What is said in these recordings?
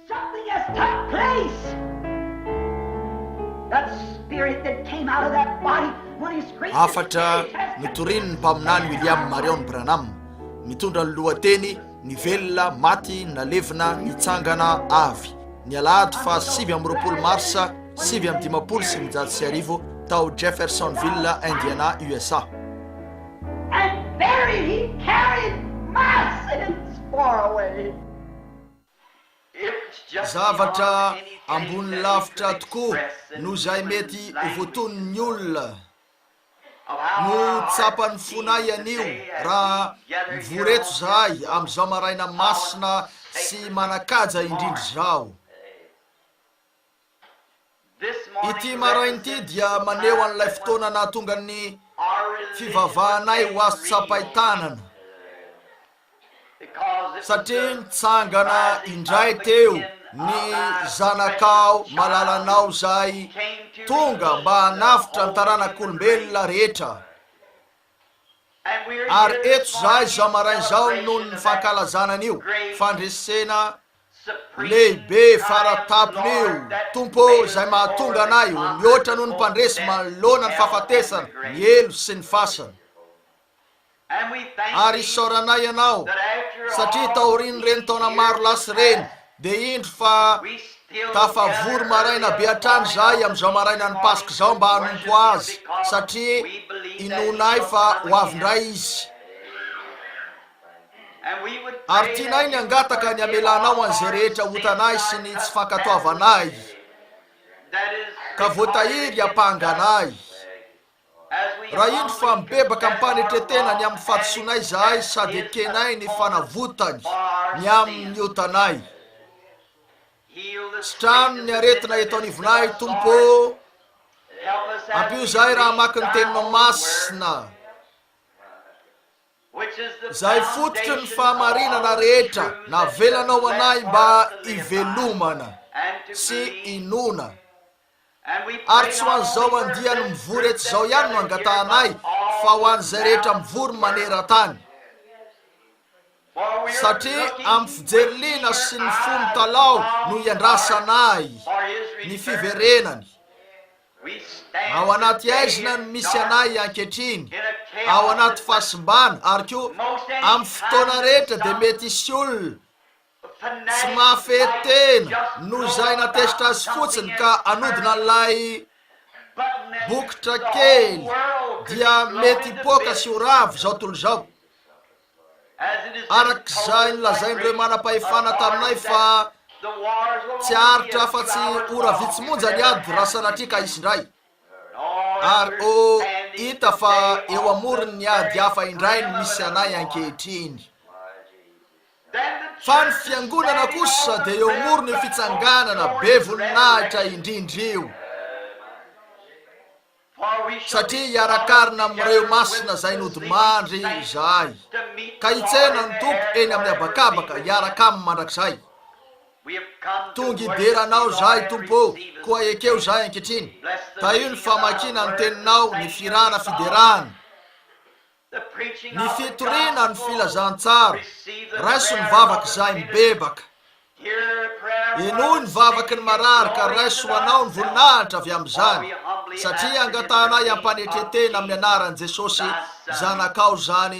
Something has took place! That spirit that came out of that body when he screamed his faith has been restored! Hafatra notorian'ny Mpaminany William Marrion Branham, mitondra ny lohateny Ny Velona, Maty, Nalevina, Nitsangana Avy, ny alahady faha sivy amby roapolo marsa sivy amby dimampolo sy sivinjato sy arivo, tao Jeffersonville, Indiana, USA. And very he carried my sins far away. Zavatra ambony lavitra tokoa noho izay mety ho voatonin'ny olona no tsapan'ny fonay anio raha mivory eto izahay amin'izao maraina masina sy manan-kaja indrindra izao. Ity maraina ity dia maneho an'ilay fotoana nahatonga ny fivavahanay ho azo tsapain-tanana, satria nitsangana indray teo ny zanakao malalanao izay tonga mba hanavotra ny taranak'olombelona rehetra. Ary eto izaho izao maraina izao noho ny fankalazana an'io fandresena lehibe fara-tampony io, Tompo ô, izay mahatonga anay ho mihoatra noho ny mpandresy manoloana ny fahafatesana, ny helo sy ny fasana. Ary isaoranay Ianao, satria taorian'ireny taona maro lasa ireny, Dia indro fa tafavory maraina be hatrany izahay amin'izao marainan'ny Paska izao mba hanompo Azy, satria inoanay fa ho avy indray Izy. Ary tianay ny hangataka ny hamelanao an'izay rehetra hotanay sy ny tsy fankatoavanay ka voatahiry hampanga anay. Raha indro fa mibebaka am-panetren-tena ny amin'ny fahadisoanay izahay sady ekenay ny fanavotany ny amin'ny otanay. Sitrano ny aretina eto anivonay, Tompo ô. Ampio izahay raha hamaky ny Teninao masina, izay fototry ny fahamarinana rehetra navelanao ho anay mba hivelomana sy hinoana Ary tsy ho an'izao andiany mivory eto izao ihany no angatahanay, fa ho an'izay rehetra mivory maneran-tany. Satria amin'ny fijery liana sy ny fo mitalaho no iandrasanay ny fiverenany. Ao anaty aizina no misy anay ankehitriny, ao anaty fahasimbana, ary koa amin'ny fotoana rehetra dia mety hisy olona Tsy mahafehy tena noho izay na tezitra azy fotsiny ka hanodina an'ilay bokotra kely dia mety hipoaka sy ho ravo izao tontolo izao. Arak'izay nolazain'ireo manam-pahefana taminay fa tsy haharitra afa-tsy ora vitsy monja ny ady raha sanatria ka hisy indray. Ary ho hita fa eo amoron'ny ady hafa indray no misy anay ankehitriny. Fa ny Fiangonana kosa dia eo amoron'io fitsanganana be voninahitra indrindra io. Satria hiarakarina amin'ireo masina izay nodimandry izahay, ka hitsena ny Tompo eny amin'ny habakabaka hiaraka Aminy mandrakizay. Tonga hidera Anao izahay, Tompo ô, koa ekeo izahay ankehitriny. Tahio ny famakiana ny Teninao, ny firana fiderana. Ny fitoriana ny filazantsara, raiso ny vavak'izay mibebaka. Henoy ny vavaky ny marary ka raiso ho anao ny voninahitra avy amin'izany, satria angatahanay am-panetre-tena amin'ny anaran'i Jesosy Zanakao izany.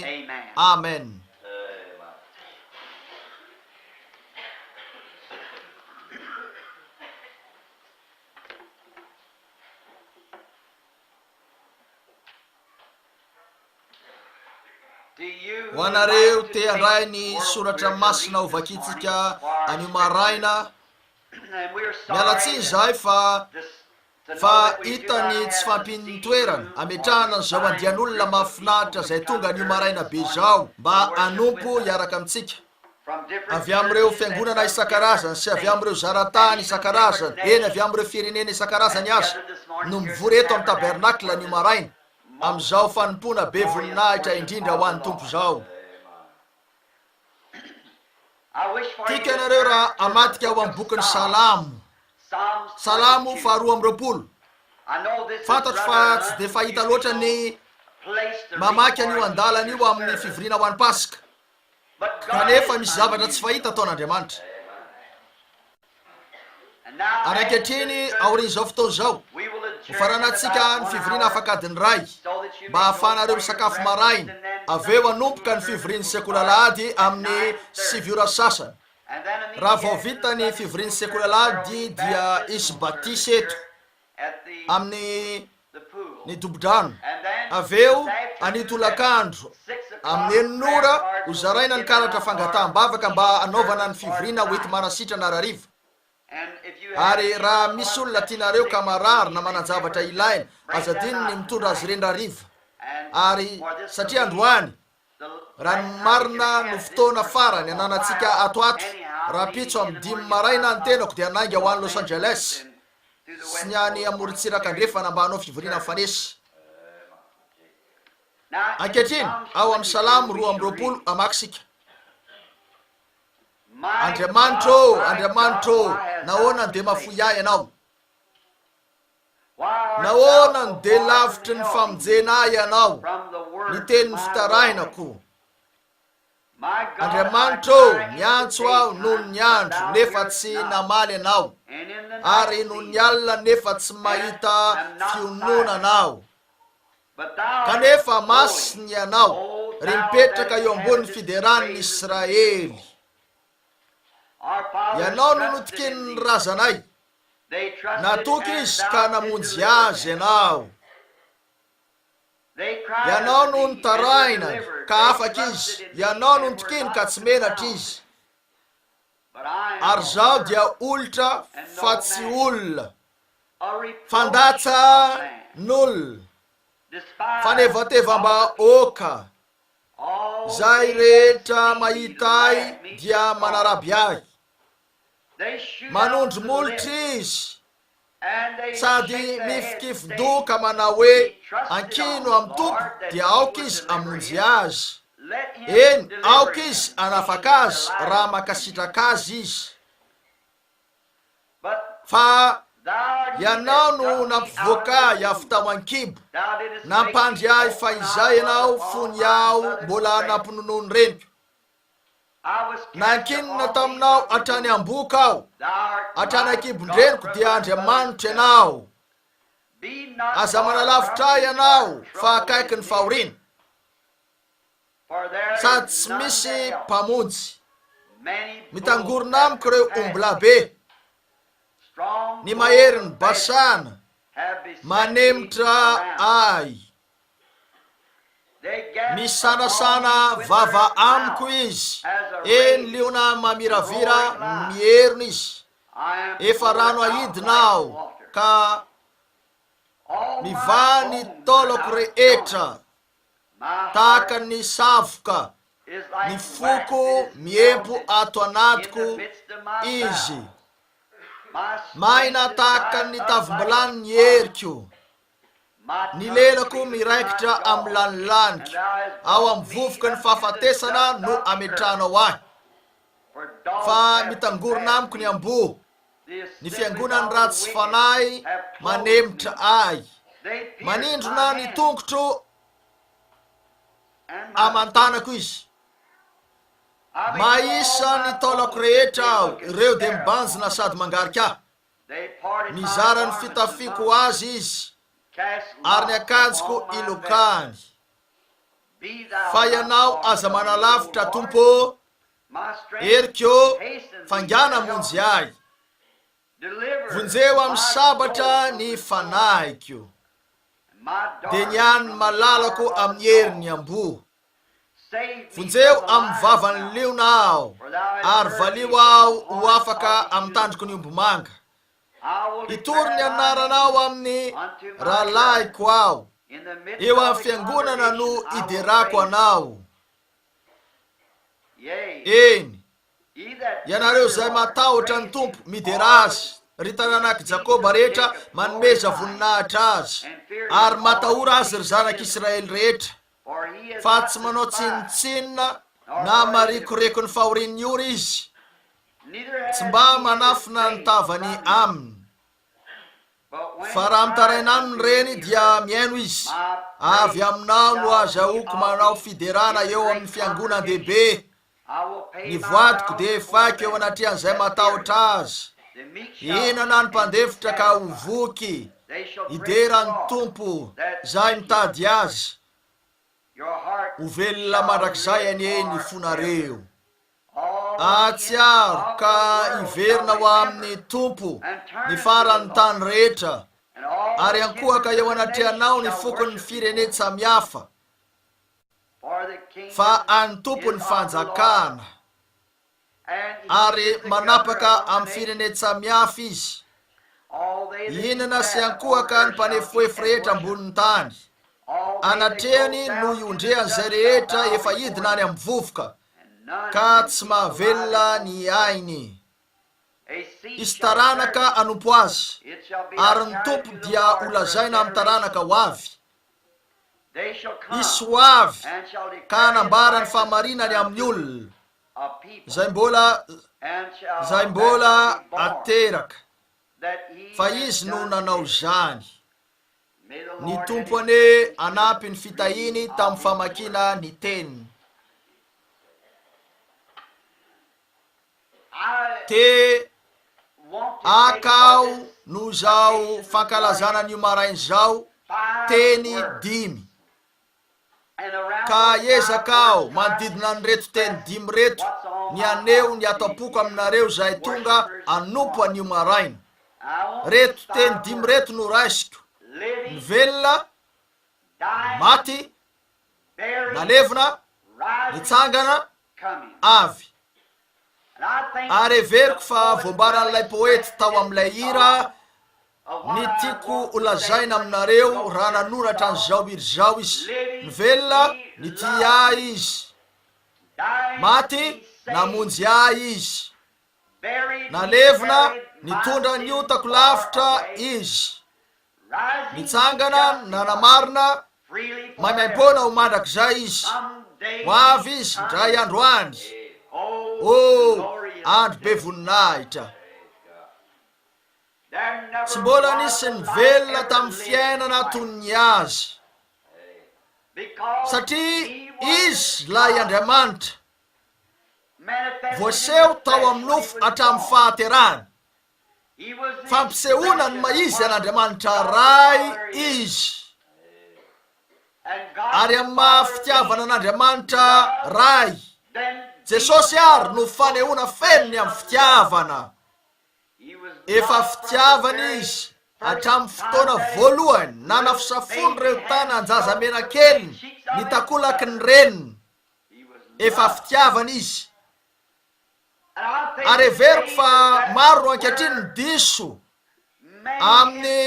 Amen. Ho anareo te handray ny soratra masina ho vakintsika anio maraina, miala tsiny izahay fa fa hita ny tsy fampin'ny toerana ametrahana an'izao andian'olona mahafinaritra izay tonga anio maraina be izao mba hanompo hiaraka amintsika. avy amin'ireo fiangonana isan-karazany sy avy amin'ireo zara-tany isan-karazany, eny, avy amin'ireo firenena isan-karazany aza, no mivory eto amin'ny Tabernacle anio maraina, amin'izao fanompoana be voninahitra indrindra ho an'ny Tompo izao. Tiako ianareo raha hamadika ao amin'ny bokin'ny Salamo, Salamo faharoa amby roapolo. Fantatro fa tsy dia fahita loatra ny mamaky an'io andalana io amin'ny fivoriana ho an'ny Paska, Kanefa misy zavatra tsy fahita ataon'Andriamanitra. Ary ankehitriny, aorian'izao fotoana izao, hofaranantsika ny fivoriana afak'adiny iray, mba hahafahanareo misakafo maraina, avy eo hanomboka ny fivorian'ny Sekoly Alahady amin'ny sivy ora sasany. Raha vao vita ny fivorian'ny Sekoly Alahady, dia hisy batisa eto. amin'ny ny dobo-drano. Avy eo, anio tolakandro, amin'ny enina ora, ho zaraina ny karatra fangataham-bavaka mba hanaovana ny fivoriana hoenti-manasitrana harariva. Ary raha misy olona tianareo ka marary na manan-javatra ilaina, aza adino ny mitondra azy ireny rariva, ary satria androany, Raha ny marina no fotoana farany ananantsika ato ato. Rahampitso amin'ny dimy maraina ny tenako dia nainga ho any Los Angeles sy ny any amorontsiraka andrefana mba hanao fivoriana mifanesy. Ankehitriny, ao amin'ny Salamo roa amby roapolo hamaky isika. Andriamanitra ô, Andriamanitra ô, nahoana no dia mahafoy ahy Ianao? Nahoana no dia lavitry ny famonjena ahy ianao, ny tenin'ny fitarainako? Andriamanitra ô, niantso aho nony ny andro nefa tsy namaly ianao, ary nony ny alina nefa tsy mahita fiononana aho. Kanefa masina ianao, ry mipetraka eo ambonin'ny fideran'ny Israely. Ianao no notikinin'ny razanay, Natoky izy ka namonjy azy ianao. Ianao no nitarainany ka afaka izy, ianao no nitokiny ka tsy menatra izy. Ary izaho dia olitra fa tsy olona, fandatsan'olona, fanevatevam-bahoaka, izay rehetra mahita ahy dia manaraby ahy. Manondro molotra izy sady mifikifin-doka manao hoe, Ankino amin'ny Tompo, dia aoka izy hamonjy azy. Eny, aoka izy hanafaka azy raha mankasitraka azy izy. Fa Ianao no nampivoaka ahy avy tao an-kibo, nampandry ahy fahizay Ianao fony aho mbola nampinonoan'ny reniko. Nankinina taminao hatrany am-boko aho, hatrany an-kibon-dreniko dia Andriamanitra ianao. Aza manalavitra ahy ianao fa akaiky ny fahoriana, sady tsy misy mpamonjy. Mitangorona amiko ireo ombilabe, ny maherin'i Basana manemitra ahy. Misanasana vava amiko izy, eny liona mamiravira mierona izy, efa rano ahidina aho ka mivaha ny taolako rehetra tahaka ny savoka, ny foko miempo ato anatiko izy, maina tahaka ny tavim-bilany ny heriko. Ny lelako miraikitra amin'ny lanin'ny laniko, ao amin'ny vovoka ny fahafatesana no ametrahanao ahy. Fa mitangorona amiko ny amboa, ny fiangonan'ny ratsy fanahy manemitra ahy, manindrona ny tongotro aman-tanako izy. Mahisa ny taolako rehetra aho, ireo dia mibanjina sady mangarika ahy. Nizara ny fitafiako ho azy izy, ary ny akanjoko ilokany. Fa Ianao aza manalavitra, Tompo ô! Heriko ô, faingàna hamonjy ahy. Vonjeo amin'ny sabatra ny fanahiko, dia ny an'ny malalako amin'ny herin'ny amboa. Vonjeo amin'ny vavan'ny liona aho, ary valio aho ho afaka amin'ny tandroky ny omby manga. Hitory ny anaranao amin'ny rahalahiko aho, eo amin'ny fiangonana no hiderako anao. Eny, ianareo izay matahotra ny Tompo, midera azy, ry taranak'i Jakoba rehetra manomeza voninahitra azy, ary matahora azy ry zanak'Israely rehetra. fa tsy manao tsinontsinona na marikoriko ny fahorian'ny ora izy, tsy mba manafina ny tavany aminy. Fa raha mitaraina aminy ireny dia mihaino izy, avy aminao no azahoako manao fiderana eo amin'ny fiangonan-dehibe, Ny voadiko dia efaiko eo anatrehan'izay matahotra azy. Hihinana ny mpandefitra ka ho voky, hidera ny Tompo izay mitady azy. Ho velona mandrakizay anie ny fonareo. Hahatsiaro ka hiverina ho amin'ny Tompo ny faran'ny tany rehetra, ary hankohaka eo anatrehanao ny fokon'ny firenen-tsamihafa. fa an'ny Tompo ny fanjakana, ary manapaka amin'ny firenen tsamihafa Izy, hihinana sy hankohaka ny mpanefoefo rehetra ambonin'ny tany, anatrehany no iondrehan'izay rehetra efa hidina any amin'ny vovoka, ka tsy mahavelona ny ainy. Hisy taranaka hanompo Azy, ary ny Tompo dia holazaina amin'ny taranaka ho avy, Hisy ho avy ka hanambara ny fahamarinany amin'ny olona, izay mbola, izay mbola ateraka, fa Izy no nanao izany. Ny Tompo anie hanampy ny fitahiany tamin'ny famakiana ny Teniny. te hakao noho izao fankalazana an'io maraina izao teny dimy. Ka ezaka aho manodidina an'ireto teny dimy reto ny haneho ny ato am-poko aminareo izay tonga hanompo an'io maraina. Reto teny dimy reto no raisiko, ny velona, ny maty, nalevina, nitsangana, avy. Ary heveriko fa voambaran'ilay poety tao amin'ilay hira ny tiako holazaina aminareo raha nanoratra an'izao hira izao izy. Nivelona, nitia ahy izy. Maty, namonjy ahy izy. Nalevina, nitondra ny otako lavitra izy. Nitsangana nanamarina maimaimpoana ho mandrakizay izy. Ho avy izy indray andro any. Oh, andro be voninahitra. Tsy mbola nisy ny velona tamin'ny fiainana toy ny azy. Satria izy ilay Andriamanitra voaseho tao amin'ny nofo hatramin'ny fahaterahany. fampisehoana ny maha izy an'Andriamanitra Ray izy, ary amin'ny maha fitiavana an'Andriamanitra Ray. Jesosy àry no fanehoana feno ny amin'ny fitiavana. Efa fitiavana izy hatramin'ny fotoana voalohany nanafisafoan'ireo tanan-jaza mena-keliny ny takolaky ny reniny. Efa fitiavana izy. ary heveriko fa maro ankehitriny ny diso amin'ny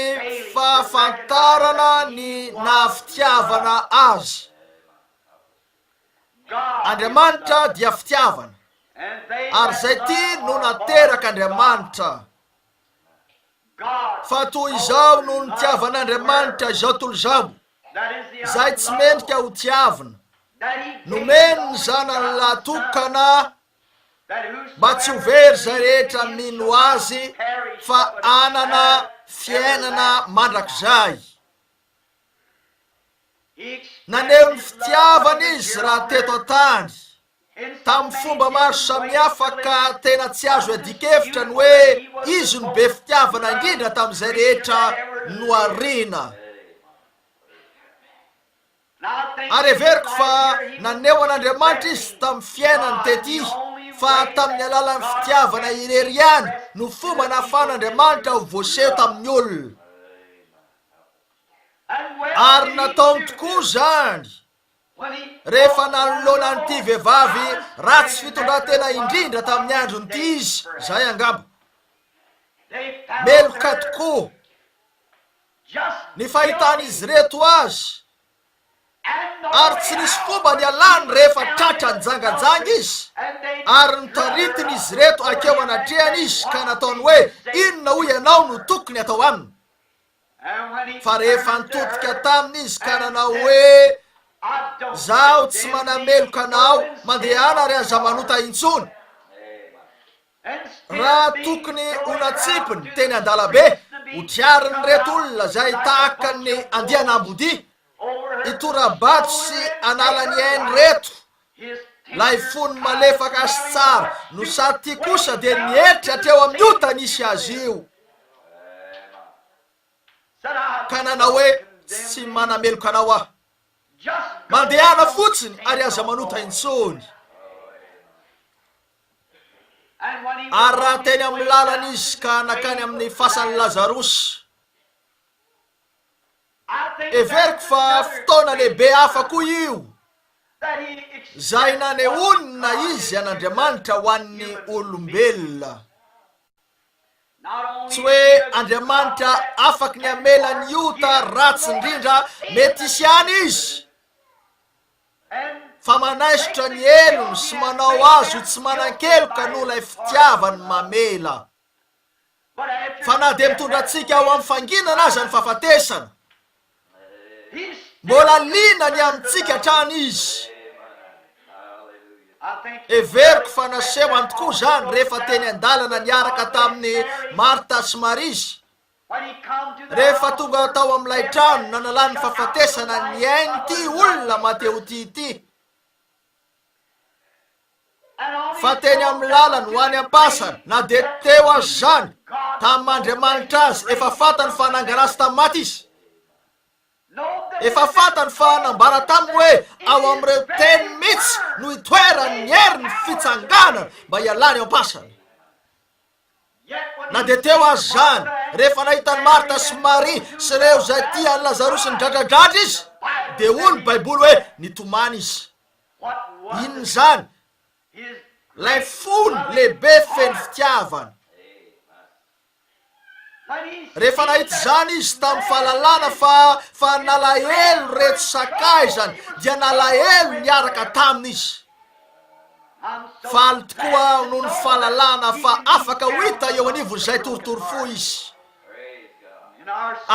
fahafantarana ny naha-fitiavana azy. Andriamanitra dia fitiavana, ary izay tia no naterak'Andriamanitra. Fa toy izao no nitiavan'Andriamanitra izao tolozamo, izay tsy mendrika ho tiavina, nomeny ny zanany lahy tokana mba tsy ho very izay rehetra mino azy fa anana fiainana mandrakizay. Naneho ny fitiavana izy raha teto an-tany. tamin'ny fomba maro samihafa ka tena tsy azo iadian-kevitra ny hoe izy no be fitiavana indrindra tamin'izay rehetra nohariana. Ary heveriko fa naneho an'Andriamanitra izy tamin'ny fiainany tety fa tamin'ny alalan'ny fitiavana irery ihany no fomba nahafahan'Andriamanitra ho voaseho tamin'ny olona. Ary nataony tokoa izany. rehefa nanoloana an'ity vehivavy ratsy fitondran-tena indrindra tamin'ny andron'ity izy, izay angamba. Meloka tokoa ny fahitan'izy ireto azy, ary tsy nisy fomba nialany rehefa tratra nijanganjanga izy, ary notaritin'izy ireto hakeo anatrehany izy ka nataony hoe, Inona hoy ianao no tokony atao aminy? Fa rehefa nitodika taminy izy ka nanao hoe, Izaho tsy manameloka anao, mandehana ary aza manota intsony. Raha tokony ho natsipiny teny an-dalambe, hotriarin'ireto olona izay tahaka ny andian'ambodia, hitora-bato sy hanala ny ainy ireto Ilay fony malefaka sy tsara no sady tia kosa dia nieritreritra hatreo amin'ny ota nisy azy io ka nanao hoe, Tsy manameloka anao aho. Mandehana fotsiny ary aza manota intsony. Ary raha teny amin'ny lalana izy ka nankany amin'ny fasan'i Lazarosy, Heveriko fa fotoana lehibe hafa koa io izay nanehoana izy an'Andriamanitra ho an'ny olombelona. Tsy hoe Andriamanitra afaky ny hamela ny ota ratsy indrindra mety hisy ihany izy, fa manaisotra ny helony sy manao azy ho tsy manan-keloka noho ilay fitiavany mamela. Fa na dia mitondra antsika ho amin'ny fanginana aza ny fahafatesana, mbola liana ny amintsika hatrany Izy. Heveriko fa nasehony tokoa izany rehefa teny an-dalana niaraka tamin'i Martha sy Maria Izy, rehefa tonga tao amin'ilay trano nanalany ny fahafatesana ny ain'ity olona mahatehotia ity. fa teny amin'ny lalany ho any am-pasana, na dia teo aza izany tamin'ny maha Andriamanitra azy, efa fantany fa nangana azy tamin'ny maty izy. Efa fantany fa nambara taminy hoe ao amin'ireo teny mihitsy no itoeran'ny herin'ny fitsanganana mba hialany ao am-pasana. Na dia teo aza izany, rehefa nahita an'i Marta sy Maria sy ireo izay tia an'i Lazarosy nidradradradra izy, dia hoy ny Baiboly hoe nitomany izy. Inona izany? Ilay fony lehibe feno fitiavana. Rehefa nahita izany izy tamin'ny fahalalana fa fa nalahelo ireto sakaizany, dia nalahelo niaraka taminy izy. Faly tokoa aho noho ny fahalalana fa afaka ho hita eo anivon'izay torotoro fo izy,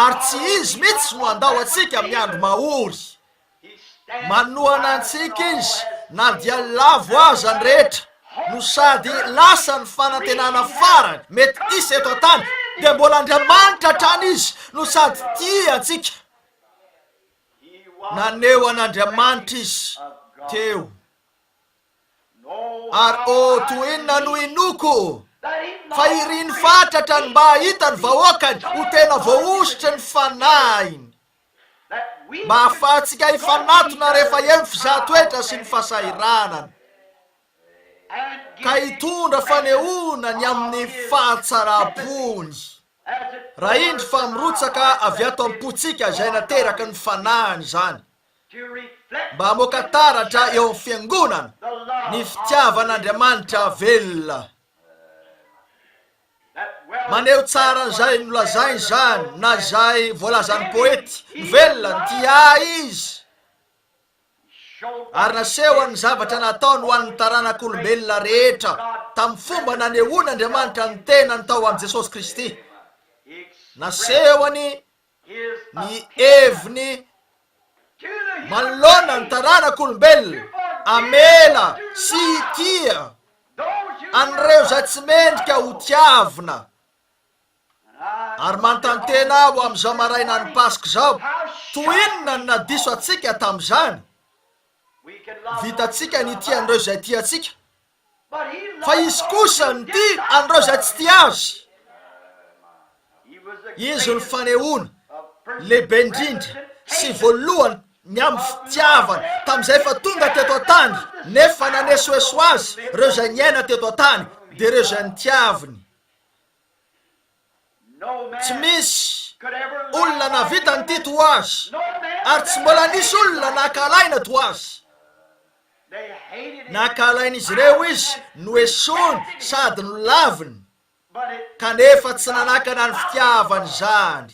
ary tsy izy mihitsy no handao antsika amin'ny andro mahory. Manohana antsika izy na dia lavo aza ny rehetra, no sady lasa ny fanantenana farany mety hisy eto an-tany, dia mbola Andriamanitra hatrany izy no sady tia antsika. Naneho an'Andriamanitra izy teo. Ary ô, toy inona no inoako fa iriny fatratra ny mba hahita ny vahoakany ho tena voahosotry ny fanahiny. Mba ahafahantsika hifanatona rehefa eo ny fizahatoetra sy ny fahasahiranana, ka hitondra fanehoana ny amin'ny fahatsaram-pony. Raha indry fa mirotsaka avy ato am-pontsika izay nateraky ny fanahiny izany, mba hamoaka taratra eo amin'ny Fiangonana ny fitiavan'Andriamanitra velona. Maneho tsara an'izay nolazainy izany na izay voalazan'ny poety, Velona ny tia Ahy Izy. ary nasehony ny zavatra nataony ho an'ny taranak'olombelona rehetra tamin'ny fomba nanehoan'Andriamanitra ny tenany tao amin'i Jesosy Kristy. Nasehony ny heviny manoloana ny taranak'olombelona hamela sy hitia an'ireo izay tsy mendrika hotiavina. Ary manontany tena aho amin'izao marainan'ny Paska izao, toy inona no nadiso antsika tamin'izany? Vitantsika ny tia an'ireo izay tia antsika, fa Izy kosa no tia an'ireo izay tsy tia Azy. Izy no fanehoana lehibe indrindra sy voalohany ny amin'ny fitiavany tamin'izay efa tonga teto an-tany nefa nanesoeso Azy, ireo izay niaina teto an-tany dia ireo izay notiaviny. Tsy misy olona nahavita an'ity toa azy, ary tsy mbola nisy olona nakalaina toa azy. Nakalain'izy ireo izy, noesoriny sady nolaviny, kanefa tsy nanakana ny fitiavany izany.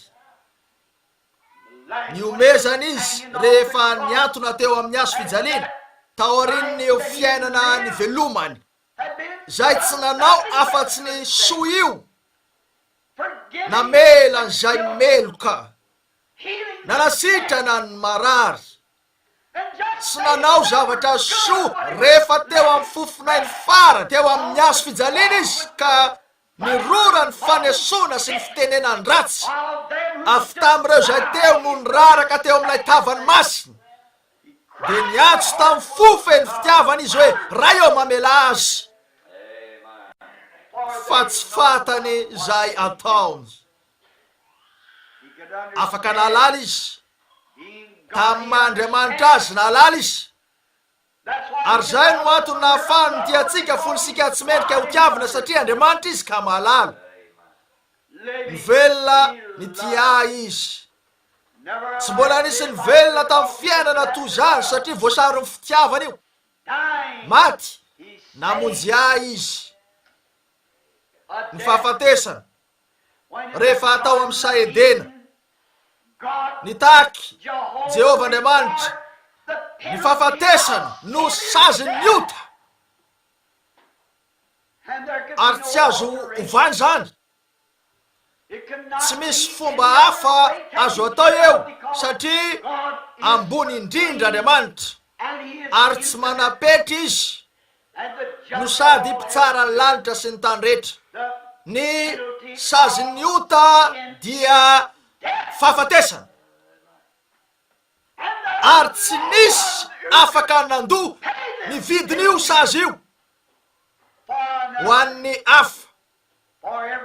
Nihomezana izy rehefa niantona teo amin'ny hazo fijaliana, taorian'ny fiainana nivelomany Zay tsy nanao afatsy ny soa io Namela an'izay meloka Nanasitrana ny marary Tsy nanao zavatra soa Rehefa teo amin'ny fofonay ny fara Teo amin'ny hazo fijaliana izy Ka nirora ny fanesoana sy ny fitenenan-dratsy Avy tamin'ireo izay teo no niraraka Teo amin'ilay tavany masina Dia niantso tamin'ny fo feno fitiavana izy hoe, Ray ô, mamelà azy, fa tsy fantany izay ataony. Afaka nahalala izy, tamin'ny maha Andriamanitra Azy, nahalala izy. Ary izay no antony nahafahany nitia antsika, fony isika tsy mendrika ho tiavina, satria Andriamanitra Izy ka mahalala. Mivelona nitia ahy Izy. Tsy mbola nisy ny velona tamin'ny fiainana toy izany satria voasaron'ny fitiavana io. Maty, namonjy ahy izy. Ny fahafatesana, rehefa tao amin'ny saha Edena, nitaky Jehovah Andriamanitra ny fahafatesana no sazin'ny ota. Ary tsy azo ovana izany. Tsy misy fomba hafa azo atao eo satria ambony indrindra Andriamanitra ary tsy manam-petra izy no sady mpitsara ny lanitra sy ny tany rehetra. Ny sazin'ny ota dia fahafatesana ary tsy misy afaka nandoa ny vidin'io sazy io ho an'ny hafa.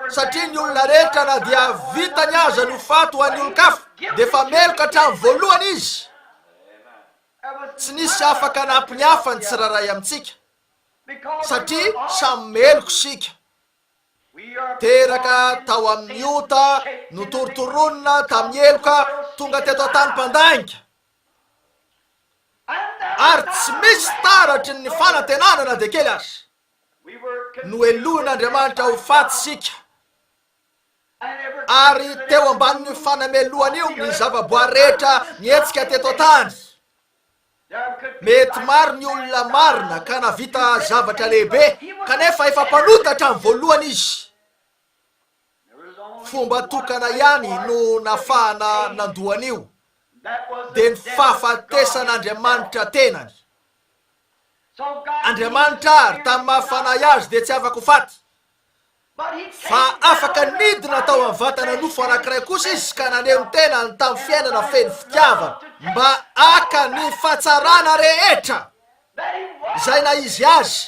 satria ny olona rehetra na dia vitany aza ny ho faty ho an'ny olon-kafa dia efa meloka hatramin'ny voalohany izy. Tsy nisy afaka hanampy ny hafa ny tsirairay amintsika, satria samy meloka isika. Teraka tao amin'ny ota, notorontoronina tamin'ny heloka, tonga teto an-tany mpandainga, ary tsy misy taratry ny fanantenana na dia kely aza. Nohelohin'Andriamanitra ho faty isika, ary teo ambanin'io fanamelohana io ny zavaboary rehetra nihetsika teto an-tany. Mety maro ny olona marina ka nahavita zavatra lehibe, kanefa efa mpanota hatramin'ny voalohany izy. Fomba tokana ihany no nafahana nandoa an'io, dia ny fahafatesan'Andriamanitra tenany. Andriamanitra ary tamin'ny maha Fanahy Azy dia tsy afa-ko faty, fa afaka nidina tao amin'ny vatana nofo anankiray kosa Izy ka naneho ny tenany tamin'ny fiainana feno fitiavana mba haka ny fahatsarana rehetra izay naha Izy Azy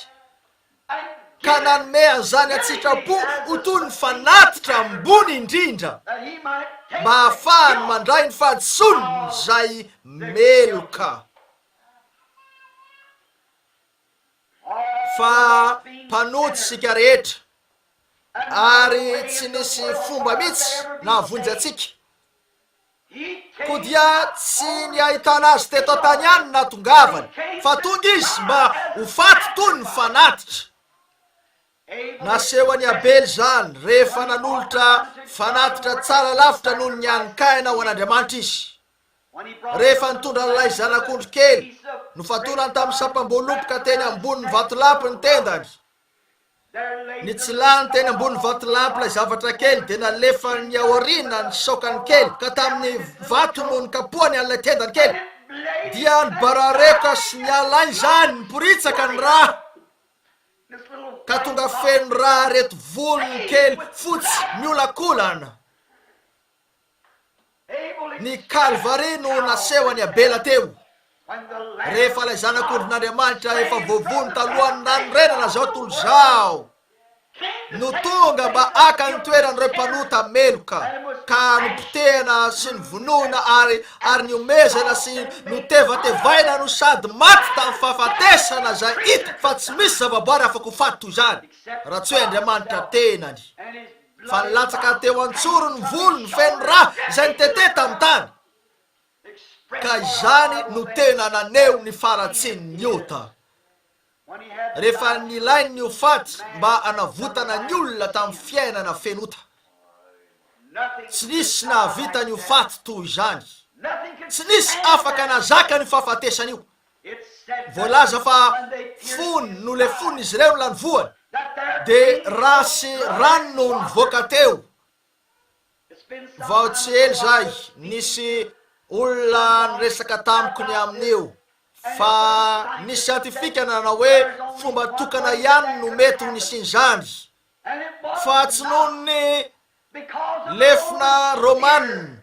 ka nanome an'izany an-tsitrapo ho toy ny fanatitra ambony indrindra mba hahafahany mandray ny fahadisoany izay meloka. fa mpanojy isika rehetra ary tsy nisy fomba mihitsy nahavonjy antsika koa dia tsy ny ahitana azy teto an-tany ihany natongavany fa tonga izy mba ho faty toy ny fanatitra naseho an'i abely izany rehefa nanolotra fanatitra tsara lavitra noho ny hanin-kaina ho an'andriamanitra izy rehefa nitondra an'ilay zanak'ondry kely nofatorany tamin'ny sampam-boaloboka teny ambonin'ny vatolampy ny tendany. Nitsilany teny ambonin'ny vatolampy ilay zavatra kely, dia nalefany aoriana ny saokany kely, ka tamin'ny vato no nikapohany an'ilay tendany kely. Dia nibarareoka sy niala izany, niporitsaka ny rà, ka tonga feno rà ireto volony kely fotsy miolakolana. Ny Kalvary no nasehon'i Abela teo. Rehefa ilay Zanak'ondrin'Andriamanitra efa voavono talohan'ny nanorenana izao tontolo izao no tonga mba haka ny toeran'ireo mpanota meloka ka nopotehana sy novonoina ary ary niomezana sy notevatevaina no sady maty tamin'ny fahafatesana izay hita fa tsy misy zavaboary afaka ho faty toy izany raha tsy hoe Andriamanitra tenany. Fa nilatsaka teo an-tsorony ny volony feno rà izay nitete tamin'ny tany, ka izany no tena naneho ny faharatsian'ny ota. Rehefa nilainy ny ho faty mba hanavotana ny olona tamin'ny fiainana feno ota, tsy nisy nahavita ny ho faty toy izany. Tsy nisy afaka nahazaka an'io fahafatesana io. voalaza fa fony nolefon' izy ireo ilany voany, dia ra sy rano no nivoaka teo. Vao tsy ela izay, nisy olona niresaka tamiko ny amin' io, fa nisy siantifika nanao hoe fomba tokana ihany no mety ho nisian' izany, fa tsy noho ny Lefona Romana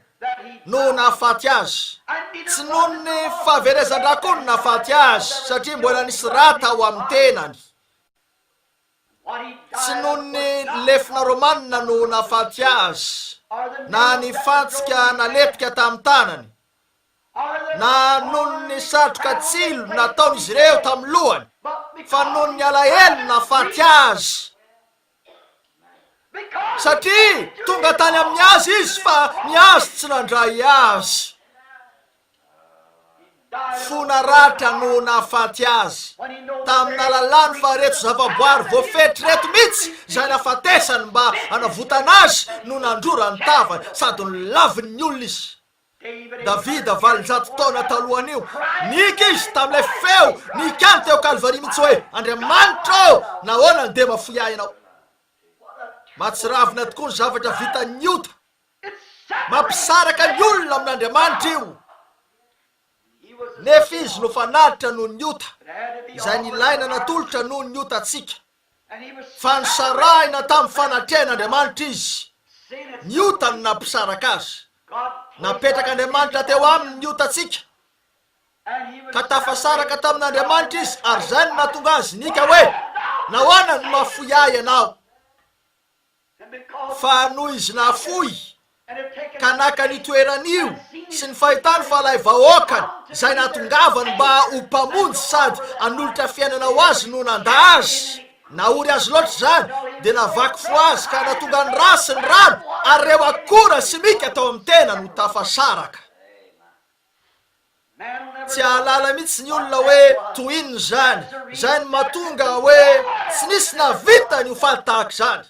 no nahafaty azy. Tsy noho ny fahaverezan-dRakony nahafaty azy, satria mbola nisy ra tao amin'ny tenany. Tsy noho ny lefona Romana no nahafaty azy, na ny fantsika nalepika tamin'ny tanany, na noho ny satroka tsilo nataon'izy ireo tamin'ny lohany, fa noho ny alahelo no nahafaty azy. Satria tonga tany amin'ny azy izy fa ny azy tsy nandray azy. Fona ratra no nahafaty azy. Tamin'alalany fa reto zavaboary voafetry reto mihitsy izay nafatesany mba hanavotana azy no nandrora ny tavany sady nolavin'ny olona izy. Davida, valonjato taona talohan'io, nihiaka izy tamin'ilay feo nihiany teo Kalvaria mihitsy hoe, Andriamanitra ô, nahoana no dia mahafoy ahy ianao? Mahatsiravina tokoa ny zavatra vitan'ny ota. Mampisaraka ny olona amin'Andriamanitra io. Nefa izy no fanatitra noho ny ota, izay nilaina natolotra noho ny otantsika. fa nisarahina tamin'ny fanatrehan'Andriamanitra izy, ny otany nampisaraka azy. Napetrak'Andriamanitra teo aminy ny otantsika, ka tafasaraka tamin'Andriamanitra izy, ary izay no nahatonga azy nika hoe, Nahoana no mahafoy ahy ianao? Fa noho izy nafoy ka naka ny toeran'io sy ny fahitany fa ilay vahoakany izay natongavany mba ho mpamonjy sady hanolotra fiainana ho azy no nandà azy, nahory azy loatra izany, dia navaky fo azy ka nahatonga ny ra sy ny rano ary ireo akora simika tao amin'ny tenany ho tafasaraka. Tsy hahalala mihitsy ny olona hoe toy inona izany. Izay no mahatonga hoe tsy nisy nahavita ny ho faly tahaka izany.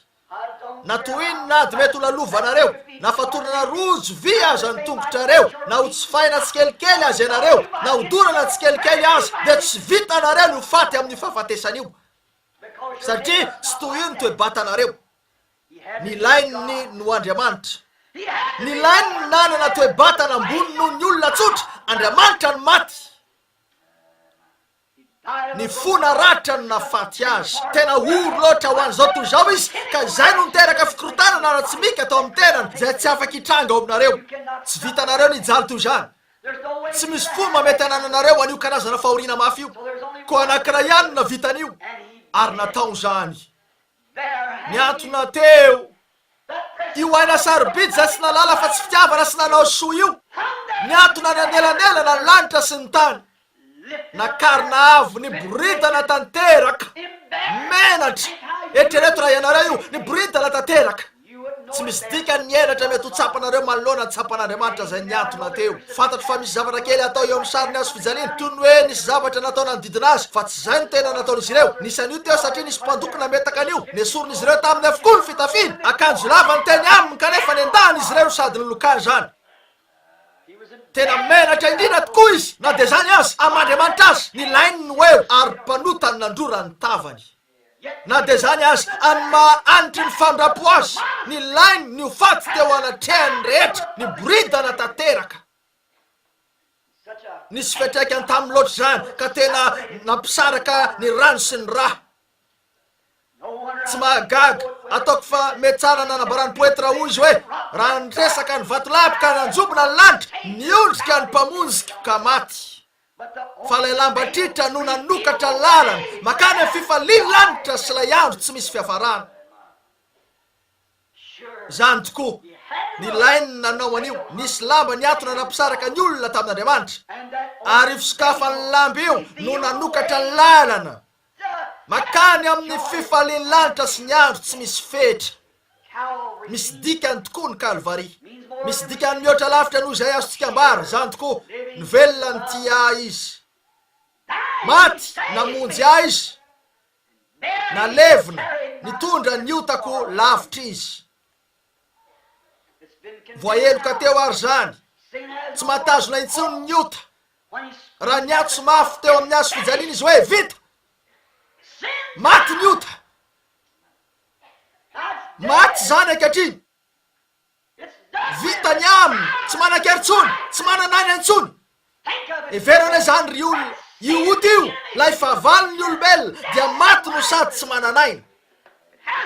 Na toy inona ady mety ho lalovanareo, na fatorana rojo vy aza ny tongotrareo, na ho tsifaina tsikelikely aza ianareo, na ho dorana tsikelikely aza, dia tsy vitanareo ny ho faty amin'io fahafatesan'io. Satria tsy toy io ny toe-batanareo. Nilainy ny noho Andriamanitra. Nilainy ny nanana toe-batana ambony noho ny olona tsotra, Andriamanitra no maty. Ny fo naratra no nahafaty azy. Tena ory loatra ho an'izao tontolo izao izy, ka izay no niteraka fikorontanana ara-tsimika tao amin'ny tenany, izay tsy afaka hitranga ao aminareo. Tsy vitanareo ny hijaly toy izany. Tsy misy fomba mety hanananareo an'io karazana fahoriana mafy io. Koa anankiray ihany no nahavita an'io, ary natao izany. Niantona teo io aina sarobidy izay tsy nalala fa tsy fitiavana sy nanao soa io. Niantona any anelanelana ny lanitra sy ny tany. Nakarina avo ny boridana tanteraka. Menatra! Eritrereto raha ianareo io, ny boridana tanteraka. Tsy misy dikany ny henatra mety ho tsapanareo manoloana ny tsapan'Andriamanitra izay nihantona teo. Fantatro fa misy zavatra kely atao eo amin'ny sarin'ny hazo fijaliana, toy ny hoe nisy zavatra natao nanodidina azy, fa tsy izay no tena nataon'izy ireo. Nisy an'io teo satria nisy mpandoko nametaka an'io. Nesorin'izy ireo taminy avokoa ny fitafiany, akanjo lava ny teny aminy, kanefa nendahany izy ireo sady nilokany izany. Tena menatra indrindra tokoa izy, na dia izany aza, amin'Andriamanitra aza. Nilainy ny ho eo, ary mpanota no nandrora ny tavany. Na dia izany aza, amin'ny maha anitry ny fandrampo azy, nilainy ny ho faty teo anatrehan'ny rehetra, niboridana tanteraka. Nisy fiantraikany taminy loatra izany, ka tena nampisaraka ny rano sy ny rà. Tsy mahagaga, ataoko fa mety tsara nanambaran'ny poety Raoul izy hoe, Raha niresaka ny vatolampy ka nanjombona ny lanitra, niondrika ny Mpamonjiko ka maty. Fa ilay lamba tritra no nanokatra lalana mankany amin'ny fifalian'ny lanitra sy ilay andro tsy misy fiafarana. Izany tokoa. Nilainy ny nanao an'io. Nisy lamba nihantona nampisaraka ny olona tamin'Andriamanitra. Ary io fisokafan'ny lamba io no nanokatra lalana Mankany amin'ny fifalian'ny lanitra sy ny andro tsy misy fetra. Misy dikany tokoa ny Kalvary. Misy dikany mihoatra lavitra noho izay azontsika ambara, izany tokoa, nivelona nitia ahy Izy. Maty namonjy ahy Izy. Nalevina, nitondra ny otako lavitra Izy. Voaheloka teo àry izany. Tsy mahatazona intsony ny ota. Raha niantso mafy teo amin'ny hazo fijaliana izy hoe, Vita! Maty ny ota! Maty izany ankehitriny! Vita ny aminy! Tsy manan-kery intsony! Tsy manana aina intsony! Hevero anie izany ry olona, io ota io, ilay fahavalon'ny olombelona, dia maty no sady tsy manana aina.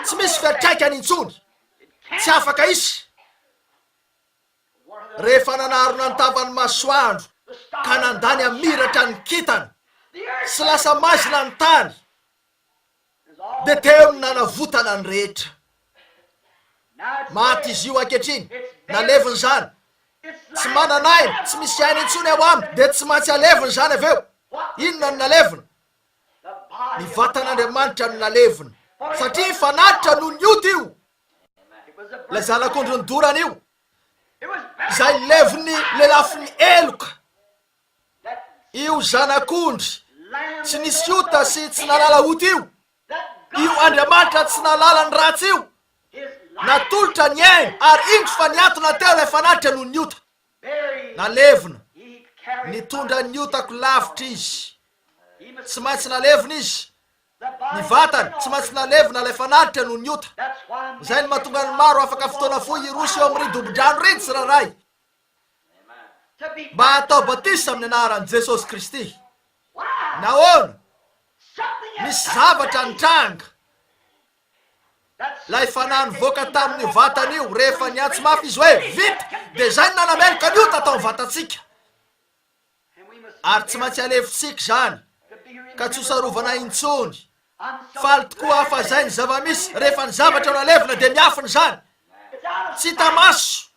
Tsy misy fiantraikany intsony. Tsy afaka hisy. Rehefa nanarona ny tavan'ny masoandro ka nandà ny hamiratra ny kintana sy lasa maizina ny tany, dia teo ny nanavotana ny rehetra. Maty izy io ankehitriny, nalevina izany. Tsy manana aina, tsy misy aina intsony ao aminy, dia tsy maintsy alevina izany avy eo. Inona no nalevina? Ny vatan'Andriamanitra no nalevina, satria fanatitra no nioty io. Ilay zanak'ondrin'ny dorana io, izay levon'ny lelafin'ny heloka, io zanak'ondry tsy nisy ota sy tsy nalala ota io, io Andriamanitra tsy nalala ny ratsy io, natolotra ny ainy ary indro fa niatona teo ilay fanatitra noho ny ota. Nalevina, nitondra ny otako lavitra izy. Tsy maintsy nalevina izy Ny vatany tsy maintsy nalevina ilay fanatitra noho ny ota. Izay no mahatonga ny maro afaka fotoana fohy hiroso eo amin'ireny dobo-drano ireny tsirairay mba hatao batisa amin'ny anaran'i Jesosy Kristy. Nahoana? Nisy zavatra nitranga. Ilay Fanahy nivoaka tamin'io vatana io rehefa niantso mafy izy hoe, Vita! dia izay no nanameloka ny ota tao amin'ny vatantsika. ary tsy maintsy alefontsika izany ka tsy hosarovana intsony. Faly tokoa aho fa izay ny zava-misy rehefa ny zavatra nalevina dia miafina izany. Tsy hita maso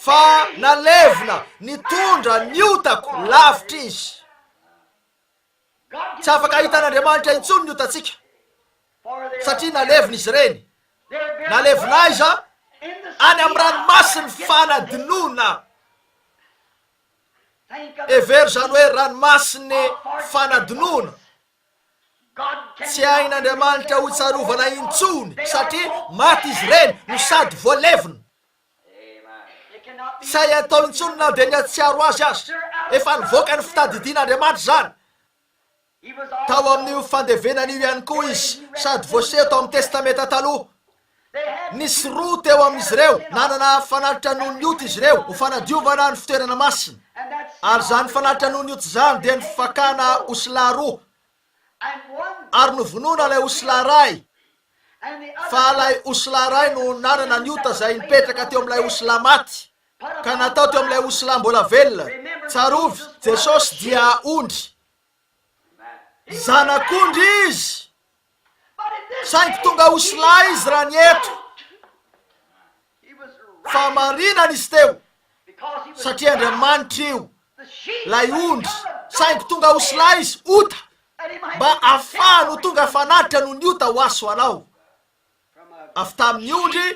fa nalevina nitondra ny otako lavitra izy. Tsy afaka hahita an'Andriamanitra intsony ny otantsika, satria nalevina izy ireny, nalevina aiza? Any amin'ny ranomasin'ny fanadinoana. Hevero izany hoe ranomasin'ny fanadinoana. Tsy hain'Andriamanitra hotsarovana intsony, satria maty izy ireny no sady voalevina. Tsy hay atao intsony na dia ny hahatsiaro azy aza. Efa nivoaka ny fitadidian' Andriamanitra izany. Tao amin' io fandevenana io ihany koa izy, sady voaseho tao amin'ny Testamenta Taloha. Nisy roa teo amin'izy ireo nanana fanatitra noho ny ota izy ireo ho fanadiovana ny fitoerana masina, ary izany fanatitra noho ny ota izany dia ny fakana osilahy roa ary novonoina ilay osilahy iray, fa ilay osilahy iray no nanana ny ota izay nipetraka teo amin'ilay osilahy maty, ka natao teo amin'ilay osilahy mbola velona. Tsarovy, Jesosy dia ondry. Zanak'ondry Izy, saingy tonga osilahy Izy raha nieto. fa marinany izy teo, satria Andriamanitra io, lay ondry, saingy tonga ho slice, ota, mba afahany ho tonga fanatitra noho ny ota ho aso anao, avy tamin'ny ondry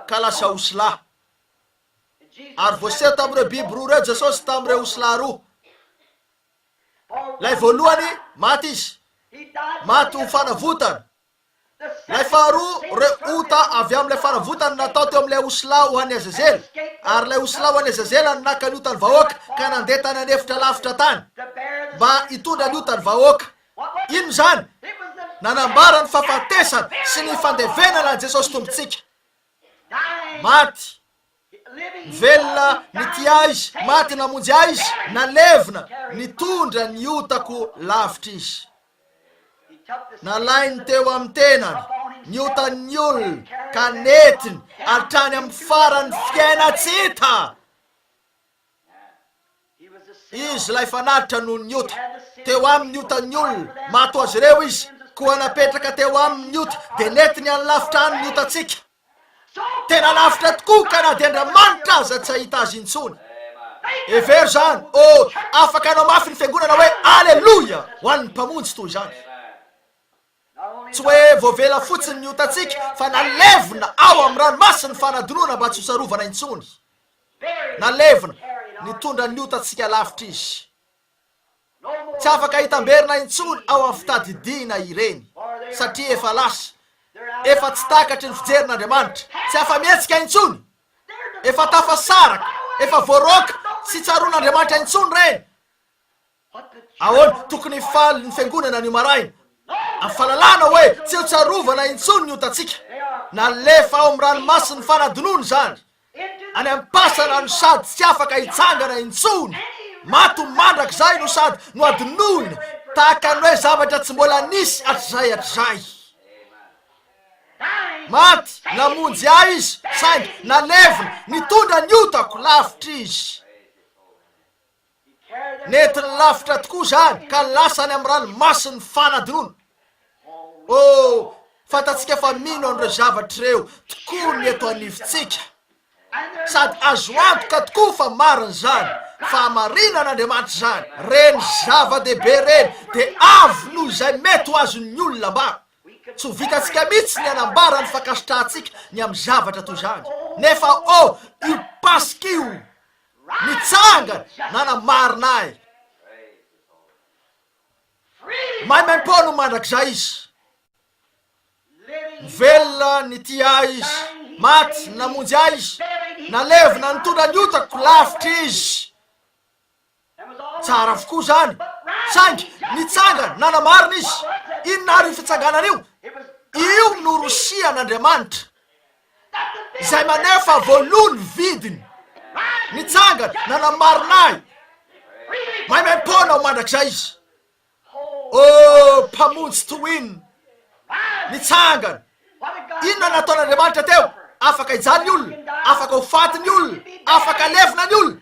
ka lasa osla. Ary voaseho tamin'ireo biby roa ireo Jesosy tamin'ireo osla roa. Lay voalohany, maty izy, maty ho fanavotana, Ilay faharoa, ireo ota avy amin'ilay fanavotana natao teo amin'ilay osilahy ho an'i Azazela, ary ilay osilahy ho an'i Azazela no naka ny otan'ny vahoaka ka nandeha tany an'efitra lavitra tany mba hitondra ny otan'ny vahoaka. Inona izany? Nanambara ny fahafatesana sy ny fandevenana an'i Jesosy Tompontsika. Maty, Velona ny tia Azy, maty namonjy Azy, nalevina, nitondra ny otako lavitra Izy. Nalainy teo amin'ny tenany ny otan'ny olona ka nentiny hatrany amin'ny faran'ny fiaina tsy hita. Izy ilay fanatitra noho ny ota. Teo aminy ny otan'ny olona, maty ho azy ireo izy, koa napetraka teo aminy ny ota, dia nentiny any lavitra any ny otantsika. Tena lavitra tokoa ka na dia Andriamanitra aza tsy hahita azy intsony. Hevero izany. Oh, afaka hanao mafy ny fiangonana hoe Aleloia ho an'ny Mpamonjy toy izany. Tsy hoe voavela fotsiny ny otantsika fa nalevina ao amin'ny ranomasin'ny fanadinoana mba tsy ho sarovana intsony. Nalevina, nitondra ny otantsika lavitra Izy. Tsy afaka hitamberina intsony ao amin'ny fitadidiana ireny, satria efa lasa. Efa tsy takatry ny fijerin'Andriamanitra. Tsy afa-mihetsika intsony. Efa tafasaraka, efa voaroaka, tsy tsaroan'Andriamanitra intsony ireny. Ahoana? Tokony hifaly ny Fiangonana anio maraina amin'ny fahalalana hoe tsy eo tsy arovana intsony ny otantsika. Nalefa ao amin'ny ranomasin'ny fanadinoana izany, any am-pasana no sady tsy afaka hitsangana intsony. Maty mandrakizay no sady nohadinoina tahaka ny hoe zavatra tsy mbola nisy hatrizay hatrizay. Maty, namonjy ahy Izy, saingy nalevina, nitondra ny otako lavitra Izy. Nentiny lavitra tokoa izany ka lasa any amin'ny ranomasin'ny fanadinoana. Oh, fantatsika fa mino an'ireo zavatra ireo tokoa ny eto anivontsika. Sady azo antoka tokoa fa marina izany, fahamarinan'Andriamanitra izany. Ireny zava-dehibe ireny dia avo noho izay mety ho azon'ny olona ambara. Tsy ho vitantsika mihitsy ny hanambara ny fankasitrahantsika ny amin'ny zavatra toy izany. Nefa, oh, io Paska io Mitsangana nanamarina ahy. Maimaim-poana mandrakizay izy. Velona nitia ahy izy. Maty namonjy ahy izy. Nalevina nitondra ny otako lavitra izy. Tsara avokoa izany. Saingy nitsangana nanamarina izy. Inona àry io fitsanganana io? Io no Rosia an'Andriamanitra. izay maneho fa voaloa ny vidiny, nitsangana, nanamarina ahy, maimaim-poana aho mandrakizay izy. Ô, Mpamonjy Twin, nitsangana. Inona nataon'Andriamanitra teo? Afaka hijaly ny olona, afaka ho faty ny olona, afaka levona ny olona,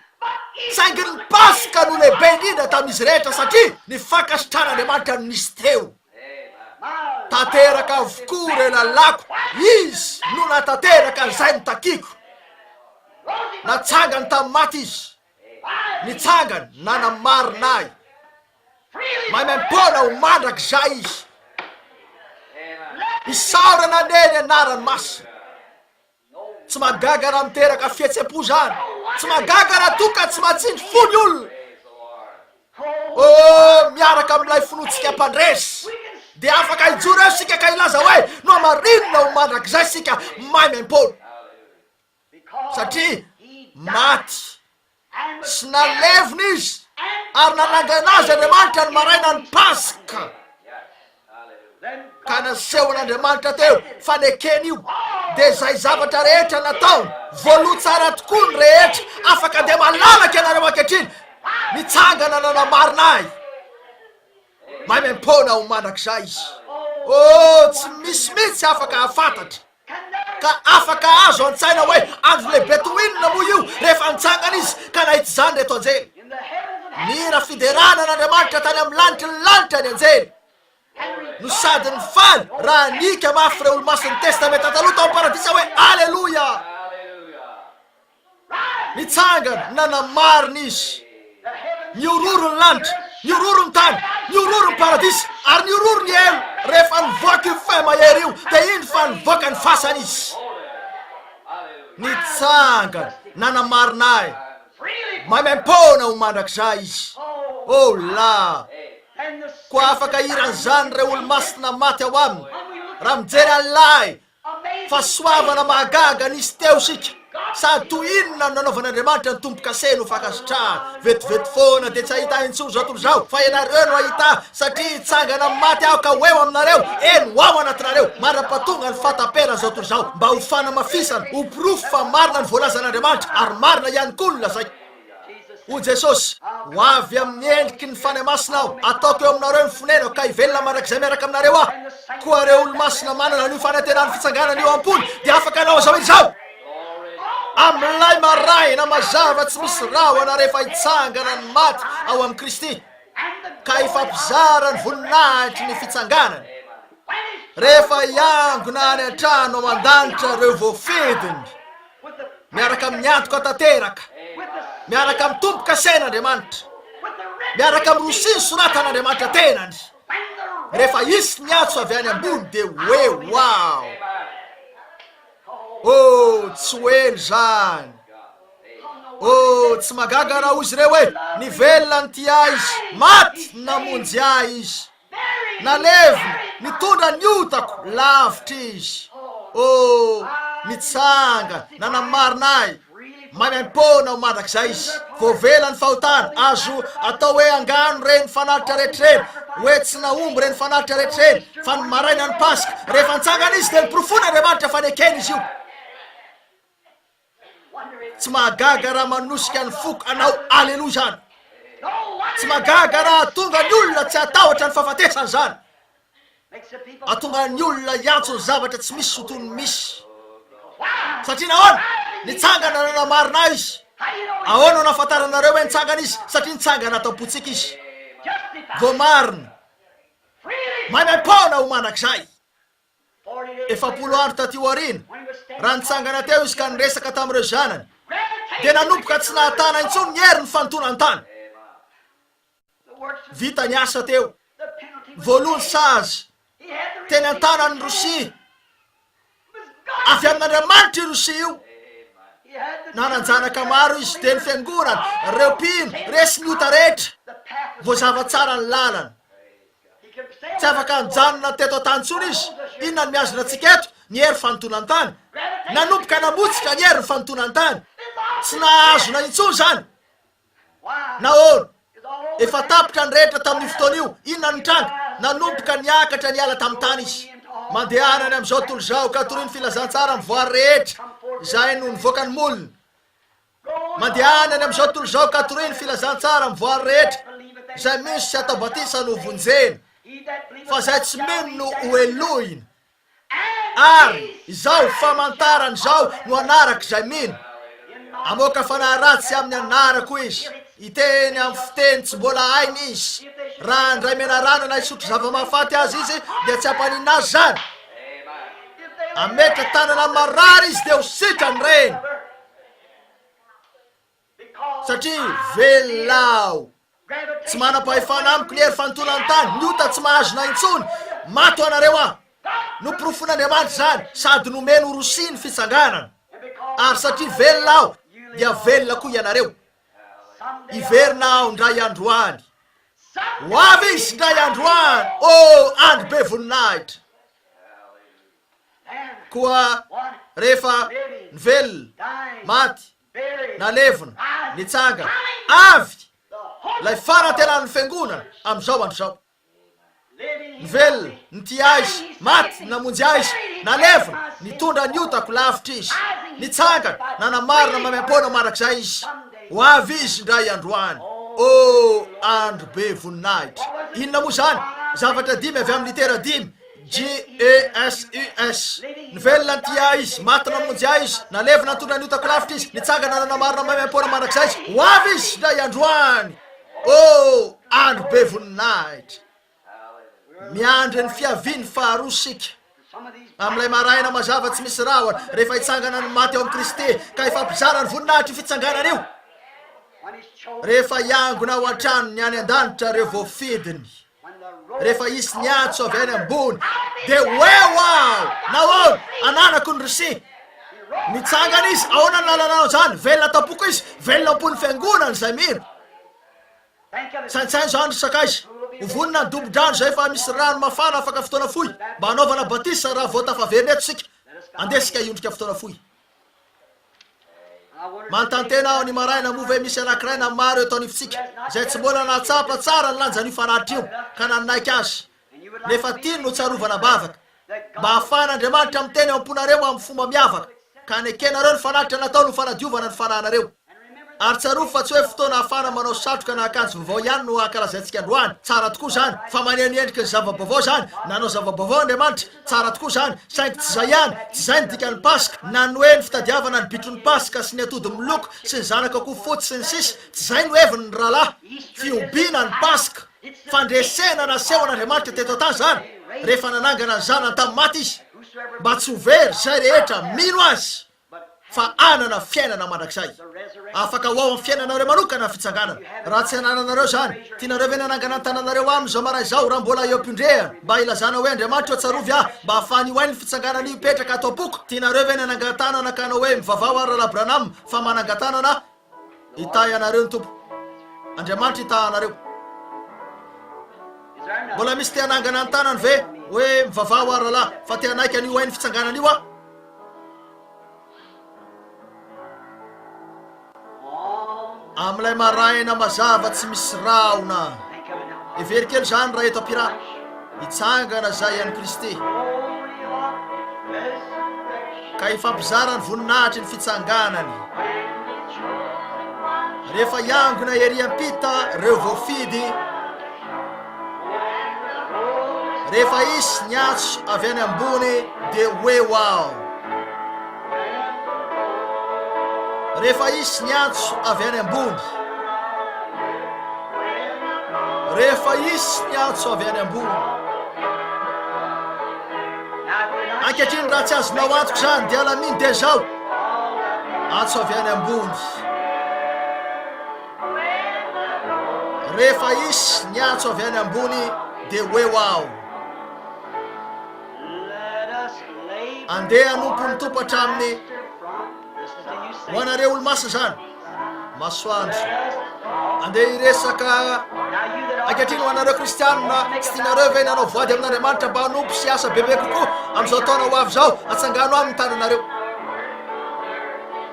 saingy ny Paska no lehibe indrindra tamin'izy rehetra, satria ny fankasitrahan'Andriamanitra nisy teo. Tanteraka avokoa ireo lalàko, Izy no nahatanteraka izay notakiako. Natsangany tamin'ny maty Izy, nitsangany nanamarina ahy. Maimaim-poana ho mandrakizay Izy. Isaorana anie ny anarany masina. Tsy mahagaga raha miteraka fihetsem-po izany. Tsy mahagaga raha toa ka tsy matsindry fo ny olona. Oh, miaraka amin'ilay finoantsika mpandresy. Dia afaka hijoro eo isika ka hilaza hoe, nohamarinina ho mandrakizay isika maimaim-poana. Satria maty sy nalevina izy ary nanangana azy Andriamanitra ny marainan'ny Paska. Ka nasehon'Andriamanitra teo fa ny ekeny io dia izay zavatra rehetra nataony, voaloha tsara tokoa ny rehetra, afaka dia malalaka ianareo ankehitriny, nitsangana nanamarina ahy, maimaim-poana ho mandrakizay izy. Oh, tsy misy mihitsy afaka hahafantatra. Ka afaka azo an-tsaina hoe andro lehibe toy inona moa io rehefa nitsangana izy ka nahita izany ireto anjely! Nihira fiderana an'Andriamanitra tany amin'ny lanitry ny lanitra ny anjely, no sady nifaly raha nihiaka mafy ireo Olomasin'ny Testamenta Taloha tao amin'ny Paradisa hoe, Aleloia! Nitsangana, nanamarina izy. Nihororo ny lanitra, nihororo ny tany, nihororo ny paradisa, ary nihororo ny helo. Rehefa nivoaka io feo mahery io, dia indro fa nivoaka ny fasana izy. Nitsangana, nanamarina ahy. Maimaim-poana ho mandrakizay izy. Oh la! Koa afaka hiran'izany ireo olomasina maty ao aminy, raha mijery an'ilay Fahasoavana mahagaga nisy teo isika sady toy inona no nanaovan'Andriamanitra ny tombo-kase no fankasitrahana. Vetivety foana dia tsy hahita ahy intsony izao tontolo izao fa ianareo no hahita ahy satria hitsangana amin'ny maty aho ka ho eo aminareo, eny ho ao anatinareo mandra-pahatonga ny fahataperan'izao tontolo izao mba ho fanamafisana, ho porofo fa marina ny voalazan'Andriamanitra ary marina ihany koa ny lazaiko. Hoy Jesosy, Ho avy amin'ny endriky ny Fanahy Masina Aho, ataoko eo aminareo ny fonenako, ka hivelona mandrakizay miaraka aminareo Aho. Koa ireo olo-masina manana an'io fanantenan'ny fitsanganana io am-pony, dia afaka hanao izao irizao. Amin'ilay maraina mazava tsy misy rahona rehefa hitsangana ny maty ao amin'i Kristy, ka hifampizara ny voninahitry ny fitsanganany, rehefa hiangona any an-trano ao an-danitra ireo voafidiny. miaraka amin'ny antoka tanteraka, miaraka amin'ny tombo-kasain' Andriamanitra, miaraka amin'ny rosia ny soratan' Andriamanitra tenany. Rehefa hisy ny antso avy any ambony dia hoe wow! Oh, tsy ho ela izany. Oh, tsy magaga raha hoy izy ireo hoe ny velona ny tia izy, maty namonjy ahy izy. Naleviny, nitondra ny otako lavitra izy. Oh, nitsanga, nanamarina ahy. Maimaim-poana ao mandrakizay izy. Voavela ny fahotana. Azo atao hoe angano ireny fanatitra rehetra ireny, hoe tsy nahomby ireny fanatitra rehetra ireny. Fa ny marainan'ny Paska, rehefa nitsangana izy, dia niporofoin'Andriamanitra fa nekeny izy io. Tsy mahagaga raha manosika ny foko hanao aleloa izany. Tsy mahagaga raha hahatonga ny olona tsy hatahotra ny fahafatesana izany. Hahatonga ny olona hiantso ny zavatra tsy misy ho toy ny misy. Satria nahoana? Nitsangana nanamarina ahy izy. Ahoana no anafantaranareo hoe nitsangana izy? Satria nitsangana ato am-pontsika izy. Voamarina. Maimaim-poana ho mandrakizay. efapolo andro taty aoriana, raha nitsangana teo izy ka niresaka tamin'ireo zanany, dia nanomboka tsy nahatana intsony ny herin'ny fanotonan-tany. Vita ny asa teo. Voaloa ny sazy. Teny an-tanan'ny Rosia. Avy amin'Andriamanitra io Rosia io. Nanan-janaka maro izy, dia ny fiangonana, ireo mpino, resy ny ota rehetra. Voazava tsara ny lalana. Tsy afaka nijanona teto an-tany intsony izy. Inona no mihazona antsika eto? Ny hery fanintoana ny tany. Nanomboka namotsika ny herin'ny fanintoana ny tany. Tsy nahahazona intsony izany. Nahoana? Efa tapitra ny rehetra tamin'io fotoana io. Inona no nitranga? Nanomboka niakatra niala tamin'ny tany izy. Mandehana any amin'izao tontolo izao, ka torio ny filazantsara amin'ny voary rehetra izay no nivoaka ny molony. Mandehana any amin'izao tontolo izao ka toroy ny filazantsara amin'ny voary rehetra, izay misy tsy atao batisa no vonjena, fa izay tsy mino no ho helohina. Ary izao famantarana izao no anarak' izay mino, Hamoaka fanahy ratsy amin'ny anarako izy, hiteny amin'ny fiteny tsy mbola hainy izy, raha handray menarana na hisotro zava-mahafaty azy izy, dia tsy hampaninona azy izany. Hametra-tanana amin'ny marary izy, dia ho sitrany ireny. Satria velona aho. Tsy manam-pahefana amiko ny hery fanotonan-tany. Ny ota tsy mahazona intsony. Maty ho anareo aho. Noporofoin'Andriamanitra izany sady nomeny ho rosia ny fitsanganana. Ary satria velona aho, dia velona koa ianareo. Hiverina aho indray andro any. Ho avy Izy indray andro any. Oh, andro be voninahitra! Koa rehefa nivelona, maty, nalevina, nitsanga avy, ilay fanantenan'ny Fiangonana amin'izao andro izao. Nivelona, nitia Azy, maty, namonjy Azy, nalevina, nitondra ny otako lavitra Izy, nitsangana, nanamarina maimaim-poana mandrakizay Izy. Ho avy Izy indray andro any. Oh, andro be voninahitra! Inona moa izany? Zavatra dimy avy amin'ny litera dimy. JESUS, Ny velona ny tia Ahy Izy, maty namonjy Ahy Izy, nalevina nitondra ny otako lavitra Izy, nitsangana nanamarina maimaim-poana mandrakizay Izy, ho avy Izy indray androany! Oh, andro be voninahitra! Miandry ny fiaviany faharoa isika. Amin'ilay maraina mazava tsy misy rahona, rehefa hitsangana ny maty ao amin'i Kristy, ka hifampizara ny voninahitra io fitsanganana io, rehefa hiangona ao an-tranony any an-danitra ireo voafidiny. Rehefa hisy ny antso avy any ambony, dia hoe ho aho, nahoana, ananako ny risia. Mitsangana izy, ahoana ny lalanao izany? Velona tampoko izy, velona ampon'ny fiangonana izay mino. Saintsaino izany ry sakaiza. Ho vonona ny dobo-drano izay fa misy rano mafana afaka fotoana fohy, mba hanaovana batisa raha vao tafaverina eto isika. Andeha isika hiondrika fotoana fohy. Manontantena aho ny maraina moa ve misy anankiray na maro eto anivontsika izay tsy mbola nahatsapa tsara ny lanjan'io fararitra io ka nanaiky azy nefa tiany notsarovana am-bavaka. Mba hahafahan'Andriamanitra miteny ao am-ponareo amin'ny fomba miavaka ka hanekenareo ny fanatitra nataony ho fanadiovana ny fanahinareo. Ary tsarovy fa tsy hoe fotoana ahafahana manao satroka na akanjo vaovao ihany no hankalazaintsika androany. Tsara tokoa izany, fa maneho ny endriky ny zava-baovao izany. Nanao zava-baovao Andriamanitra. Tsara tokoa izany. Saingy tsy izay ihany. Tsy izay ny dikan'ny Paska, na ny hoe ny fitadiavana ny bitron'ny Paska sy ny atody miloko sy ny zanak'akoho fotsy sy ny sisa. Tsy izay no heviny ny rahalahy. Fihobiana ny Paska. Fandresena nasehon'Andriamanitra teto an-tany izany, rehefa nanangana ny Zanany tamin'ny maty Izy, mba tsy ho very izay rehetra mino Azy. fa hanana fiainana mandrakizay. Afaka ho ao amin'ny fiainanareo manokana ny fitsanganana. Raha tsy anananareo izany, tianareo ve ny hanangana ny tananareo aminy izao maraina izao, raha mbola eo am-piondrehana, mba hilazana hoe, Andriamanitra ô, tsarovy ahy, mba hahafahan'io ain'ny fitsanganana io hipetraka ato am-poko? Tianareo ve ny hanangan-tanana ka hanao hoe, Mivavaha ho an'i Rahalahy Branham, fa manangan-tanana aho? Hitahy anareo ny Tompo. Andriamanitra hitaha anareo. Mbola misy te hanangana ny tanany ve hoe mivavaha ho rahalahy fa te hanaiky an'io hain'ny fitsanganana io aho? Amin'ilay maraina mazava tsy misy rahona. Heveriko kely izany raha eto am-piraty. Hitsangana izay an'i Kristy, ka hifampizara ny voninahitry ny fitsanganany. Rehefa hiangona ery am-pita ireo voafidy, rehefa hisy ny antso avy any ambony, dia hoe ho aho. Rehefa hisy ny antso avy any ambony, rehefa hisy ny antso avy any ambony. Ankehitriny raha tsy azonao antoka izany dia alamino dia izao. Antso avy any ambony. Rehefa hisy ny antso avy any ambony dia hoe ho aho. Andeha hanompo ny Tompo hatramin'ny ho anareo olomaso izany masoandro. Andeha hiresaka ankehitriny ho anareo kristianina tsy tianareo ve nanao voady amin'Andriamanitra mba hanompo sy asa bebe kokoa amin'izao taona ho avy izao atsangano amin'ny tananareo.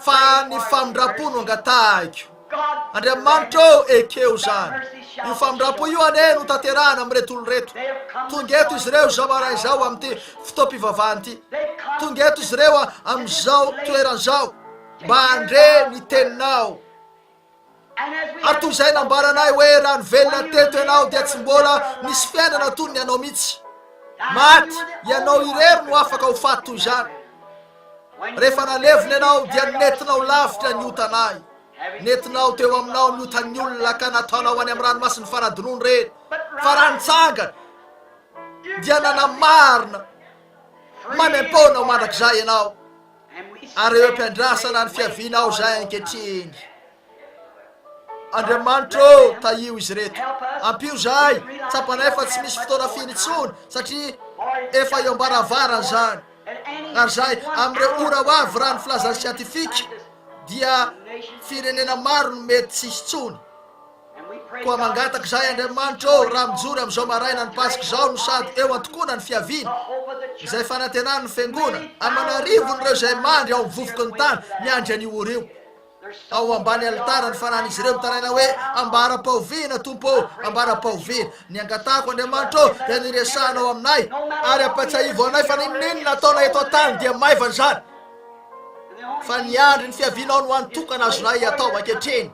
fa ny famindrampo no angatahiko. Andriamanitra ô, ekeo izany. Io famindrampo io anie no tanterahana amin'ireto olona ireto. Tonga eto izy ireo izao maraina izao amin'ity fotoam-pivavahana ity. Tonga eto izy ireo amin'izao toerana izao mba handre ny Teninao. Ary toy izay nambaranay hoe raha nivelona teto ianao dia tsy mbola nisy fiainana toy ny anao mihitsy. Maty, ianao irery no afaka ho faty toy izany. Rehefa nalevina ianao dia nentinao lavitra ny otanay. Nentinao teo aminao ny otan'ny olona ka nataonao any amin'ny ranomasin'ny fanadinoana ireny. Fa raha nitsangana dia nanamarina maimaim-poana ho mandrakizay ianao. ary eo am-piandrasana ny fiavianao izay ankehitriny. Andriamanitra ô, tahio izy ireto. Ampio izahay, tsapanay fa tsy misy fotoana firy intsony, satria efa eo am-baravarana izany. Ary izay, amin'ireo ora ho avy, raha ny filazan'ny siantifika, dia firenena maro no mety tsy hisy intsony. Koa mangataka izahay Andriamanitra ô, raha mijoro amin'izao marainan'ny Paska izao no sady eo an-tokoana ny fiaviany, izay fanantenan'ny Fiangona, aman'arivon'ireo izay mandry ao amin'ny vovoky ny tany miandry an'io ora io. Ao ambany alitara ny fanan'izy ireo mitaraina hoe, Ambaram-pahoviana, Tompo ô, ambaram-pahoviana. Ny angatahako Andriamanitra ô, dia ny resahanao aminay, ary ampahatsiahivo anay fa n'inon'inona ataonay eto an-tany dia maivana izany, fa ny andry ny fiavianao no hany tokana azonay atao ankehitriny.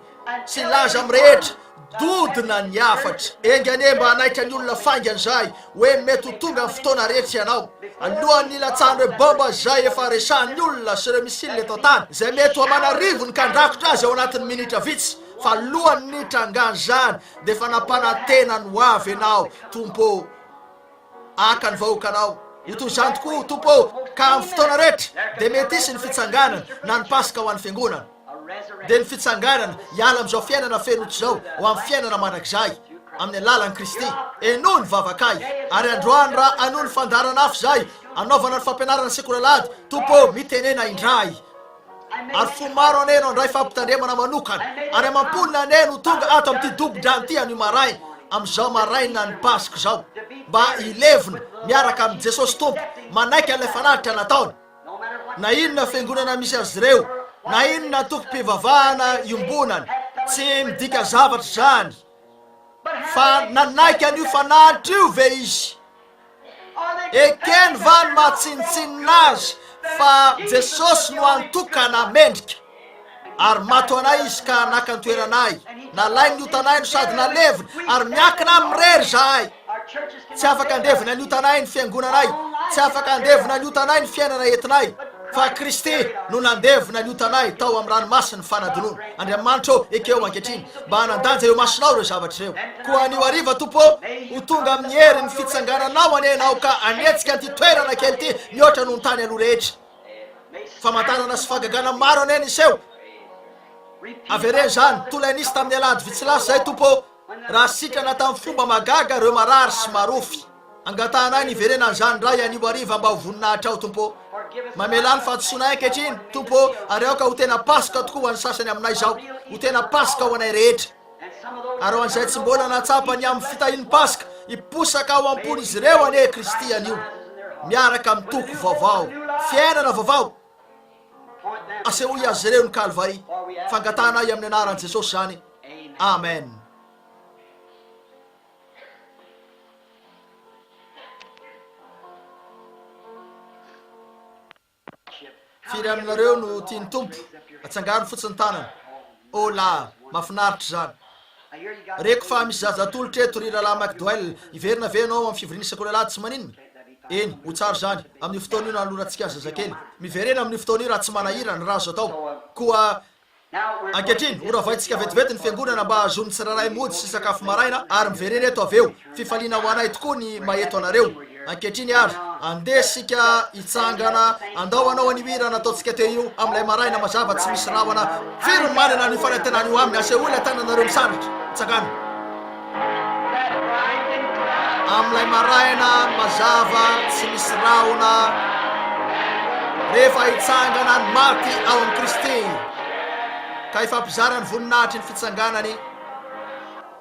Tsy hilaza amin'ny rehetra, dodona ny hafatra. Enga anie mba hanaiky ny olona faingana izay hoe mety ho tonga ny fotoana retsy ianao, alohan'ny hilatsahan'ireo baomba izay efa resahin'ny olona sy ireo missiles eto an-tany, izay mety ho aman'arivony ny kandrakotra azy ao anatin'ny minitra vitsy. Fa alohan'ny nitrangan'izany dia efa nampanantena ny ho avy ianao, Tompo ô! Haka ny vahoakanao ho toy izany tokoa ho Tompo ô, ka amin'ny fotoana rehetra dia mety hisy ny fitsanganana na ny Paska ho an'ny Fiangonana. Dia ny fitsanganana hiala amin'izao fiainana fenotsy izao ho amin'ny fiainana mandrakizay amin'ny alalan'i Kristy. Enoy ny vavakay, ary androany raha hanohy ny fandaharan'afo izay hanaovana ny fampianarana sekoly alahady, Tompo ô, mitenena indray. Ary fo maro anie no handray fampitandremana manokana, ary amam-polony anie no tonga ato amin'ity dobo-drano ity anio maraina, amin'izao marainan'ny Paska izao, mba hilevina miaraka amin'i Jesosy Tompo, manaiky an'ilay fanatitra nataony. Na inona fiangonana misy azy ireo, na inona antokom-pivavahana iombonany, tsy midika zavatra izany. Fa nanaiky an'io fanatitra io ve izy? Ekeny va ny maha tsinontsinona azy fa Jesosy no antokana mendrika? Ary maty ho anay izy ka naka ny toeranay, nalainy ny otanay no sady naleviny, ary miankina aminy irery izahay. Tsy afaka handevina ny otanay ny fiangonanay, tsy afaka handevina ny otanay ny fiainana entinay. Fa Kristy no nandevona ny otanay tao amin'ny ranomasin'ny fanadinoana. Andriamanitra ô, ekeo ankehitriny mba hanan-danja eo imasonao ireo zavatra ireo. Koa anio hariva, Tompo ô, ho tonga amin'ny herin'ny fitsangananao anie ianao ka hanetsika an'ity toerana kely ity mihoatra noho ny tany aloha rehetra. Famantarana sy fahagagana maro anie niseho. Avereno izany, toa ilay nisy tamin'ny alahady vitsy lasa izay, Tompo ô. Raha sitrana tamin'ny fomba mahagaga ireo marary sy marofy, angatahanay ny hiverenan'izany indray anio hariva mba ho voninahitrao, Tompo ô. Mamelà ny fahadisoanay ankehitriny, Tompo ô, ary aoka ho tena Paska tokoa ho an'ny sasany aminay izao, ho tena Paska ho anay rehetra. Ary ho an'izay tsy mbola nahatsapa ny amin'ny fitahian'ny Paska, hiposaka ao am-pon'izy ireo anie Kristy anio, miaraka amin'ny toko vaovao, fiainana vaovao. Asehoy azy ireo ny Kalvary. Fangatahanay amin'ny anaran'i Jesosy izany. Amen. Firy aminareo no tian'ny Tompo atsangano fotsiny tanana? Oh la! Mafinaritra izany. Reko fa misy zaza atolotra eto, ry Rahalahy McDowell. Hiverina ve ianao amin'ny fivoriana isan-ko Alahady tsy maninona? Eny, ho tsara izany, amin'io fotoana io nanolorantsika ny zazakely. Miverena amin'io fotoana io raha tsy manahirana, raha azo atao. Koa ankehitriny, horavaintsika vetivety ny fiangonana mba hahazoan'ny tsirairay mody sy sakafo maraina, ary miverena eto avy eo. Fifaliana ho anay tokoa ny maheto anareo. Ankehitriny ary, andeha isika hitsangana handao anao an'io hira nataontsika teo io amin'ilay maraina mazava tsy misy rahona. Firy no manana an'io fanantenana io aminy? Asehoy ilay tananareo misaraka. Tsangano. Amin'ilay maraina mazava tsy misy rahona, rehefa hitsangana ny maty ao amin'i Kristy, ka hifampizara ny voninahitry ny fitsanganany.